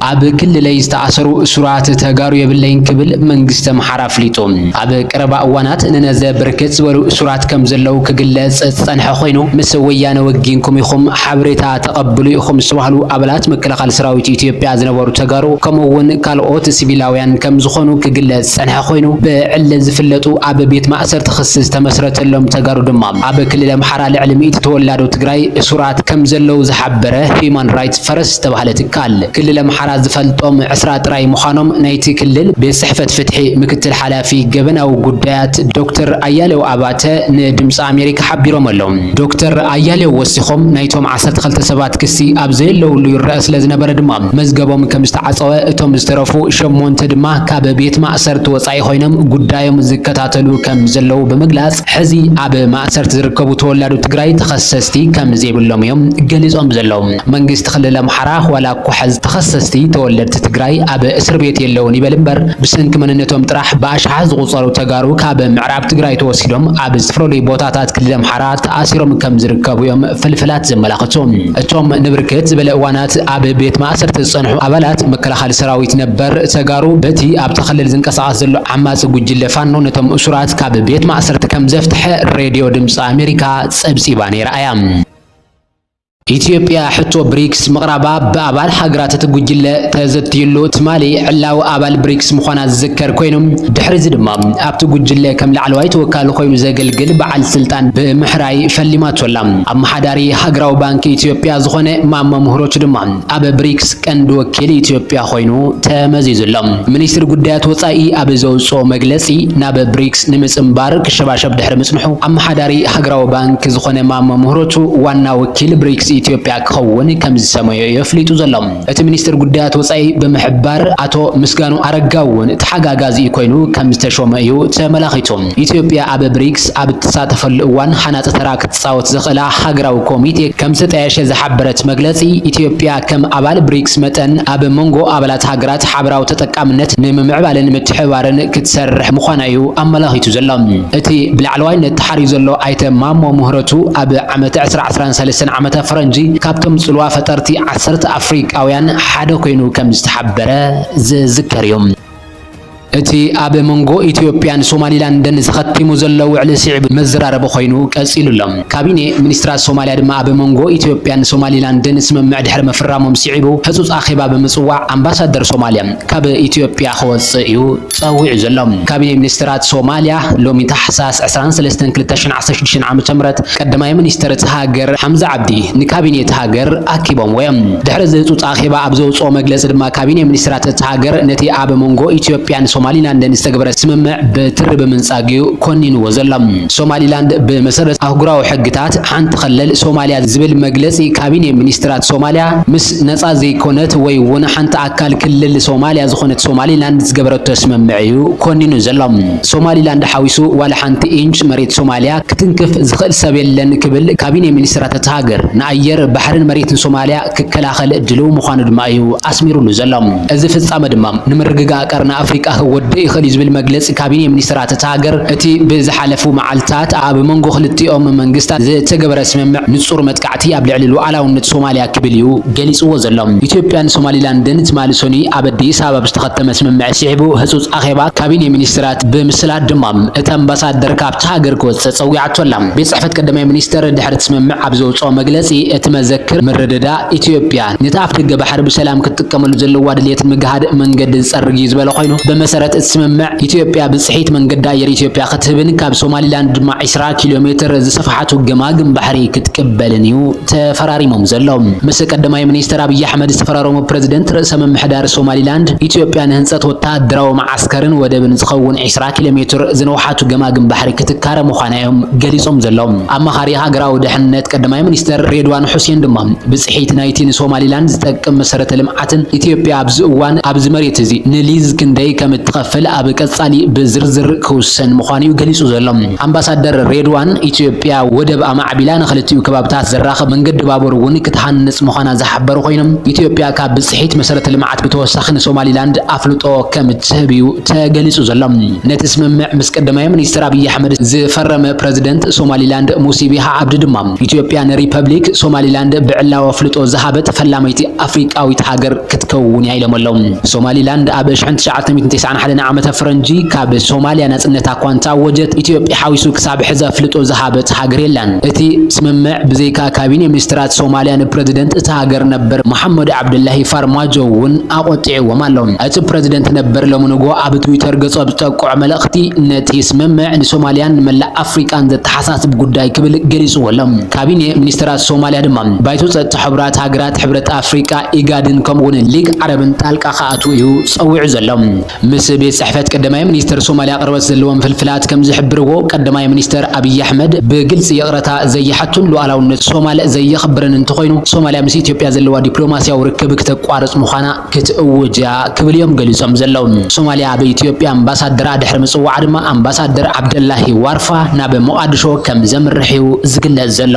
ኣብ ክልለይ ዝተኣሰሩ እሱራት ተጋሩ የብለይን ክብል መንግስቲ ኣምሓራ ኣፍሊጡ። ኣብ ቀረባ እዋናት ንነዘ ብርክት ዝበሉ እሱራት ከም ዘለዉ ክግለጽ ዝጸንሐ ኮይኑ ምስ ወያነ ወጊንኩም ኢኹም ሓበሬታ ተቐብሉ ኢኹም ዝተባህሉ ኣባላት መከላኸሊ ሰራዊት ኢትዮጵያ ዝነበሩ ተጋሩ ከምኡ'ውን ካልኦት ሲቪላውያን ከም ዝኾኑ ክግለጽ ዝጸንሐ ኮይኑ፣ ብዕሊ ዝፍለጡ ኣብ ቤት ማእሰርቲ ክሲ ዝተመስረተሎም ተጋሩ ድማ ኣብ ክልል ኣምሓራ ልዕሊ ሚእቲ ተወላዶ ትግራይ እሱራት ከም ዘለዉ ዝሓበረ ሂዩማን ራይትስ ፈረስ ዝተባህለ ትካል ክልል ኣምሓራ ዝፈልጦም ዕስራ ጥራይ ምዃኖም ናይቲ ክልል ቤት ጽሕፈት ፍትሒ ምክትል ሓላፊ ገበናዊ ጉዳያት ዶክተር ኣያሌው ኣባተ ንድምጺ ኣሜሪካ ሓቢሮም ኣለው። ዶክተር ኣያሌው ወሲኾም ናይቶም ዓሰርተ ክልተ ሰባት ክሲ ኣብ ዘየለዉሉ ይረኣ ስለ ዝነበረ ድማ መዝገቦም ከም ዝተዓጸወ፣ እቶም ዝተረፉ ሸሞንተ ድማ ካብ ቤት ማእሰርቲ ወጻኢ ኮይኖም ጉዳዮም ዝከታተሉ ከም ዘለዉ ብምግላጽ፣ ሕዚ ኣብ ማእሰርቲ ዝርከቡ ተወላዶ ትግራይ ተኸሰስቲ ከም ዘይብሎም እዮም ገሊጾም ዘለዉ። መንግስቲ ክልል ኣምሓራ ዋላ እኳ ሕዚ ተኸሰስቲ ተወለድቲ ትግራይ ኣብ እስር ቤት የለዉን ይበል እምበር፣ ብሰንኪ መንነቶም ጥራሕ ብኣሽሓት ዝቑጸሩ ተጋሩ ካብ ምዕራብ ትግራይ ተወሲዶም ኣብ ዝተፈለለዩ ቦታታት ክልል ኣምሓራ ተኣሲሮም ከም ዝርከቡ እዮም ፍልፍላት ዘመላኽቱ። እቶም ንብርክት ዝበለ እዋናት። እቲ ኣብ ቤት ማእሰርቲ ዝጸንሑ ኣባላት መከላኸሊ ሰራዊት ነበር ተጋሩ በቲ ኣብቲ ክልል ዝንቀሳቐስ ዘሎ ዓማጺ ጉጅለ ፋኖ ነቶም እሱራት ካብ ቤት ማእሰርቲ ከምዘፍትሐ ሬድዮ ድምጺ ኣሜሪካ ጸብጺባ ነይራ እያ። ኢትዮጵያ ሕቶ ብሪክስ ምቕራባ ብኣባል ሃገራት እቲ ጉጅለ ተዘትዩሉ ትማሊ ዕላዊ ኣባል ብሪክስ ምዃና ዝዝከር ኮይኑ ድሕሪዚ ድማ ኣብቲ ጉጅለ ከም ላዕለዋይ ተወካሊ ኮይኑ ዘገልግል በዓል ስልጣን ብምሕራይ ፈሊማቶ ኣላ። ኢትዮጵያ ኣመሓዳሪ ሃገራዊ ባንኪ ኢትዮጵያ ዝኾነ ማሞ ምህሮቹ ድማ ኣብ ብሪክስ ቀንዲ ወኪል ኢትዮጵያ ኮይኑ ተመዚዙ ኣሎ። ሚኒስትሪ ጉዳያት ወፃኢ ኣብ ዘውፅኦ መግለፂ ናብ ብሪክስ ንምፅምባር ክሸባሸብ ድሕሪ ምፅንሑ ኣመሓዳሪ ሃገራዊ ባንኪ ዝኾነ ማሞ ምህሮቹ ዋና ወኪል ብሪክስ ኢትዮጵያ ክኸውን ከምዝሰመዮ እዩ ኣፍሊጡ ዘሎ። እቲ ሚኒስትሪ ጉዳያት ወፃኢ ብምሕባር ኣቶ ምስጋኑ ኣረጋ እውን ተሓጋጋዚ ኮይኑ ከምዝተሾመ እዩ ተመላኺቱ። ኢትዮጵያ ኣብ ብሪክስ ኣብ እትሳተፈሉ እዋን ሃናፂ ተራ ክትፃወት ዘኽእላ ሃገራዊ ኮሚቴ ከምዝተጣየሸ ዝሓበረት መግለፂ፣ ኢትዮጵያ ከም ኣባል ብሪክስ መጠን ኣብ ሞንጎ ኣባላት ሃገራት ሓበራዊ ተጠቃምነት ንምምዕባልን ምትሕብባርን ክትሰርሕ ምዃና እዩ ኣመላኺቱ ዘሎ። እቲ ብላዕለዋይነት ተሓርዩ ዘሎ ኣይተ ማሞ ምህረቱ ኣብ ዓመተ ዕስራ ዓስራን ሰለስተን ዓመተ ፈረንጂ ካብቶም ፅልዋ ፈጠርቲ ዓሰርተ ኣፍሪካውያን ሓደ ኮይኑ ከምዝተሓበረ ዝዝከር እዩ። እቲ ኣብ መንጎ ኢትዮጵያን ሶማሊላንድን ዝኸቲሙ ዘሎ ውዕሊ ስዒቡ መዘራረቢ ኮይኑ ቀፂሉ ኣሎ። ካቢኔ ሚኒስትራት ሶማሊያ ድማ ኣብ መንጎ ኢትዮጵያን ሶማሊላንድን ስምምዕ ድሕሪ ምፍራሞም ስዒቡ ህፁፅ ኣኼባ ብምፅዋዕ ኣምባሳደር ሶማሊያ ካብ ኢትዮጵያ ክወፅእ እዩ ፀዊዑ ዘሎ። ካቢኔ ሚኒስትራት ሶማሊያ ሎሚ ታሕሳስ ዕስራን ሰለስተን ክልተ ሽሕን ዓሰርተ ሽዱሽተ ዓመተ ምህረት ቀዳማይ ሚኒስትር እታ ሃገር ሓምዛ ዓብዲ ንካቢኔ እታ ሃገር ኣኪቦምዎ እዮም። ድሕሪ እዚ ህፁፅ ኣኼባ ኣብ ዘውፅኦ መግለፂ ድማ፣ ካቢኔ ሚኒስትራት እታ ሃገር ነቲ ኣብ መንጎ ኢትዮጵያን ሶማሊላንድን ዝተገብረ ስምምዕ በትሪ ብምንጻግ'ዩ ኮኒንዎ ዘሎ። ሶማሊላንድ ብመሰረት ኣህጉራዊ ሕግታት ሓንቲ ክልል ሶማልያ ዝብል መግለጺ ካቢኔ ሚኒስትራት ሶማልያ ምስ ነጻ ዘይኮነት ወይ'ውን ሓንቲ ኣካል ክልል ሶማልያ ዝኾነት ሶማሊላንድ ዝገበረቶ ስምምዕ'ዩ ኮኒኑ ዘሎ። ሶማሊላንድ ሓዊሱ ዋላ ሓንቲ ኢንች መሬት ሶማልያ ክትንክፍ ዝኽእል ሰብ የለን ክብል ካቢኔ ሚኒስትራት እታ ሃገር ንኣየር፣ ባሕሪን መሬትን ሶማልያ ክከላኸል ድልው ምዃኑ ድማ እዩ ኣስሚሩሉ ዘሎ። እዚ ፍጻመ ድማ ንምርግጋእ ቀርኒ ኣፍሪቃ ክጎድእ ይኽእል እዩ ዝብል መግለጺ ካቢኔ ሚኒስተራት እታ ሃገር እቲ ብዝሓለፉ መዓልታት ኣብ መንጎ ክልቲኦም መንግስታት ዝተገበረ ስምምዕ ንጹር መጥቃዕቲ ኣብ ልዕሊ ሉዓላውነት ሶማልያ ክብል እዩ ገሊጽዎ ዘሎ። ኢትዮጵያን ሶማሊላንድን ትማሊ ሰኑይ ኣብ ኣዲስ ኣበባ ብዝተኸተመ ስምምዕ ስዒቡ ህጹጽ ኣኼባ ካቢኔ ሚኒስተራት ብምስላጥ ድማ እታ ኣምባሳደር ካብታ ሃገር ክወጽእ ጸዊዓቶ ኣላ። ቤት ጽሕፈት ቀዳማይ ሚኒስተር ድሕሪ እቲ ስምምዕ ኣብ ዘውጽኦ መግለጺ፣ እቲ መዘክር ምርድዳእ፣ ኢትዮጵያ ነቲ ኣፍደገ ባሕሪ ብሰላም ክትጥቀመሉ ዘለዋ ድልየትን ምግሃድ መንገዲ ዝጸርግ እዩ ዝበለ ኮይኑ፣ ብመሰረት እቲ ስምምዕ ኢትዮጵያ ብጽሒት መንገዲ ኣየር ኢትዮጵያ ክትህብን ካብ ሶማሊላንድ ድማ ዕስራ ኪሎሜትር ዝሰፍሓቱ ገማግም ባሕሪ ክትቅበልን እዩ ተፈራሪሞም ዘሎ ምስ ቀዳማይ ሚኒስተር ኣብይ ኣሕመድ ዝተፈራረሙ ፕረዚደንት ርእሰ ምምሕዳር ሶማሊላንድ ኢትዮጵያ ንህንጸት ወተሃደራዊ ዓስከርን ወደብን ዝኸውን ዕስራ ኪሎ ሜትር ዝንውሓቱ ገማግም ባሕሪ ክትካረ ምዃና'ዮም ገሊጾም ዘለዉ። ኣማኻሪ ሃገራዊ ደሕንነት ቀዳማይ ሚኒስተር ሬድዋን ሑሴን ድማ፣ ብጽሒት ናይቲ ንሶማሊላንድ ዝጠቅም መሰረተ ልምዓትን፣ ኢትዮጵያ ኣብዚ እዋን ኣብዚ መሬት'ዚ ንሊዝ ክንደይ ከም እትኸፍል ኣብ ቀጻሊ ብዝርዝር ክውሰን ምዃኑ'ዩ ገሊጹ ዘሎ። ኣምባሳደር ሬድዋን፣ ኢትዮጵያ ወደብ ኣማዕቢላ ንኽልቲኡ ከባብታት ዘራኽብ መንገዲ ባቡር'ውን ክትሃንጽ ምዃና ዝሓበሩ ኰይኖም፣ ኢትዮጵያ ካብ ብጽሒት መሰረተ ልምዓት፣ ብተወሳኺ ንሶማሊላንድ ኣፍልጦ ከም እትህብ እዩ ተገሊጹ ዘሎ። ነቲ ስምምዕ ምስ ቀዳማይ ሚኒስተር ኣብይ ኣሕመድ ዝፈረመ ፕረዚደንት ሶማሊላንድ ሙሲ ቢሃ ዓብዲ ድማ፣ ኢትዮጵያ ንሪፐብሊክ ሶማሊላንድ ብዕላዊ ኣፍልጦ ዝሃበት ፈላመይቲ ኣፍሪቃዊት ሃገር ክትከውን እያ ኢሎሞ ኣለው። ሶማሊላንድ ኣብ ሽሕን ትሽዓተ ሚእትን ቴስዓን ሓደን ዓመተ ፈረንጂ ካብ ሶማልያ ናጽነታ እኳ እንተኣወጀት፣ ኢትዮጵያ ሓዊሱ ክሳብ ሕዚ ኣፍልጦ ዝሃበት ሃገር የላን። እቲ ስምምዕ ብዘይካ ካቢኔ ሚኒስተራት ሶማልያ ንፕረዚደንት እታ ሃገር ነበር መሓመድ ዓብደላሂ ኣርማጆ እውን ኣቖጢዕዎም ኣሎ። እቲ ፕረዚደንት ነበር ሎሚ ንግሆ ኣብ ትዊተር ገጹ ኣብ ዝጠቅዖ መልእኽቲ፣ ነቲ ስምምዕ ንሶማልያን ንመላእ ኣፍሪቃን ዘተሓሳስብ ጉዳይ ክብል ገሊጽዎ ኣሎ። ካቢኔ ሚኒስተራት ሶማልያ ድማ፣ ባይቶ ጸጥታ ሕቡራት ሃገራት፣ ሕብረት ኣፍሪቃ፣ ኢጋድን ከምኡ'ውን ሊግ ዓረብን ጣልቃ ክኣትው እዩ ጸዊዑ ዘሎ። ምስ ቤት ጽሕፈት ቀዳማይ ሚኒስተር ሶማልያ ቅርበት ዘለዎም ፍልፍላት ከም ዝሕብርዎ፣ ቀዳማይ ሚኒስተር ኣብይ ኣሕመድ ብግልጺ ይቕረታ ዘይሓቱን ሉኣላውነት ሶማል ዘየኽብርን እንተኾይኑ፣ ሶማልያ ምስ ኢትዮጵያ ዘለዋ ዲፕሎማስያዊ ርክብ ክተቋርጽ ምዃና ክትእውጅ እያ ክብል እዮም ገሊጾም ዘለዉ። ሶማልያ ኣብ ኢትዮጵያ ኣምባሳደራ ድሕሪ ምጽዋዓ ድማ፣ ኣምባሳደር ዓብደላሂ ዋርፋ ናብ ሞቓድሾ ከም ዘምርሕ'ዩ ዝግለጽ ዘሎ።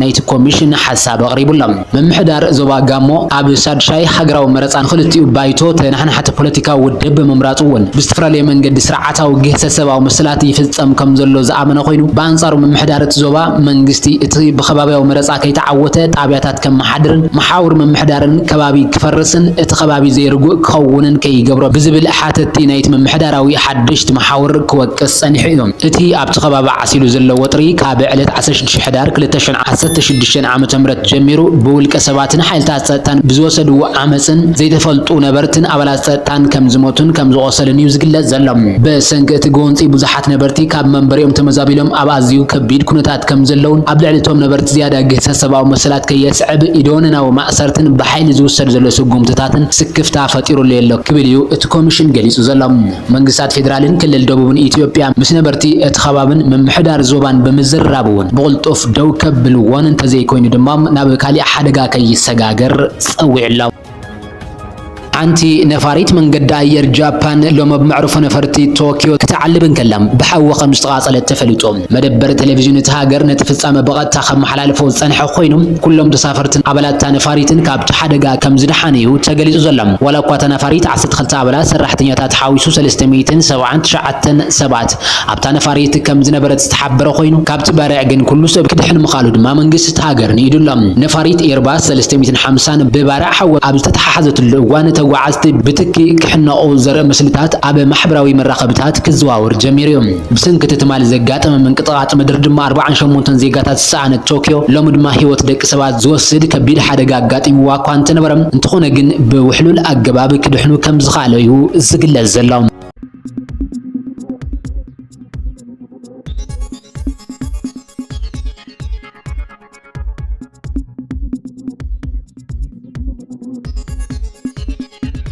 ናይቲ ኮሚሽን ሓሳብ ኣቕሪቡ ኣሎ። ምምሕዳር ዞባ ጋሞ ኣብ ሻድሻይ ሃገራዊ መረጻ ንኽልቲኡ ባይቶ ተነሓናሕቲ ፖለቲካዊ ውድብ ብምምራጹ እውን ብዝተፈላለየ መንገዲ ስርዓታዊ ግህሰት ሰብኣዊ መሰላት ይፍጸም ከምዘሎ ዝኣመነ ኮይኑ ብኣንጻሩ ምምሕዳር እቲ ዞባ መንግስቲ እቲ ብከባብያዊ መረጻ ከይተዓወተ ጣብያታት ከመሓድርን መሓውር ምምሕዳርን ከባቢ ክፈርስን እቲ ከባቢ ዘይርጉእ ክኸውንን ከይገብሮ ብዝብል ሓተቲ ናይቲ ምምሕዳራዊ ሓደሽቲ መሓውር ክወቅስ ጸኒሑ እዩ እቲ ኣብቲ ከባቢ ዓሲሉ ዘሎ ወጥሪ ካብ ዕለት ዓሰርተ ሽዱሽተ ሕዳር ክልተ ሽሕን ዓሰርተ ሽዱሽተን ዓም ምት ጀሚሩ ብውልቀ ሰባትን ሓይልታት ፀጥታን ብዝወሰድዎ ዓመፅን ዘይተፈልጡ ነበርትን ኣባላት ፀጥታን ከምዝሞቱን ከምዝቖሰሉን እዩ ዝግለፅ ዘሎ። ብሰንኪ እቲ ጎንፂ ብዙሓት ነበርቲ ካብ መንበሪኦም ተመዛቢሎም ኣብ ኣዝዩ ከቢድ ኩነታት ከምዘለውን ኣብ ልዕሊ እቶም ነበርቲ ዝያዳ ግህሰት ሰብኣዊ መሰላት ከየስዕብ ኢደወነናዊ ማእሰርትን ብሓይሊ ዝውሰድ ዘሎ ስጉምትታትን ስክፍታ ፈጢሩለይ'ሎ ክብል እዩ እቲ ኮሚሽን ገሊፁ ዘሎ። መንግስታት ፌደራልን ክልል ደቡብን ኢትዮጵያ ምስ ነበርቲ እቲ ከባብን ምምሕዳር ዞባን ብምዝርራብ እውን ብቕልጡፍ ደው ከብልዎን እንተዘይኮይኑ ድማ ናብ ካሊእ ሓደጋ ከይሰጋገር ፀዊዑ ኣሎ። ሓንቲ ነፋሪት መንገዲ ኣየር ጃፓን ሎሚ ኣብ መዕርፎ ነፈርቲ ቶክዮ ክትዓልብ እንከላ ብሓዊ ከምዝተቓፀለት ተፈሊጡ። መደበር ቴሌቪዥን እታ ሃገር ነቲ ፍጻመ ብቐጥታ ከመሓላልፎ ዝጸንሐ ኮይኑ፣ ኩሎም ተሳፈርትን ኣባላት'ታ ነፋሪትን ካብቲ ሓደጋ ከምዝደሓኑ'ዩ ተገሊጹ ዘሎ። ዋላ'ኳ እታ ነፋሪት ዓሰርተ ክልተ ኣባላት ሰራሕተኛታት ሓዊሱ ሰለስተ ሚእትን ሰብዓን ትሽዓተን ሰባት ኣብታ ነፋሪት ከምዝነበረት ዝተሓበረ ኮይኑ፣ ካብቲ ባርዕ ግን ኩሉ ሰብ ክድሕን ምኽኣሉ ድማ መንግስቲ እታ ሃገር ንኢዱ ኣሎ። ነፋሪት ኤርባስ ሰለስተ ሚእትን ሓምሳን ብባርዕ ሓዊ ኣብ ዝተተሓሓዘትሉ እዋን፣ ተጓዓዝቲ ብትኪ ክሕነቑ ዘርኢ ምስልታት ኣብ ማሕበራዊ መራኸቢታት ክዘዋወር ጀሚሩ'ዩ። ብሰንኪ እቲ ትማሊ ዘጋጠመ ምንቅጥቓጥ ምድሪ ድማ ኣርብዓን ሸሞንተን ዜጋታት ዝሰኣነት ቶክዮ፣ ሎሚ ድማ ህይወት ደቂ ሰባት ዝወስድ ከቢድ ሓደጋ ኣጋጢምዋ እኳ እንተነበረ፣ እንተኾነ ግን ብውሕሉል ኣገባብ ክድሕኑ ከም ዝኸኣሉ'ዩ ዝግለጽ ዘሎ።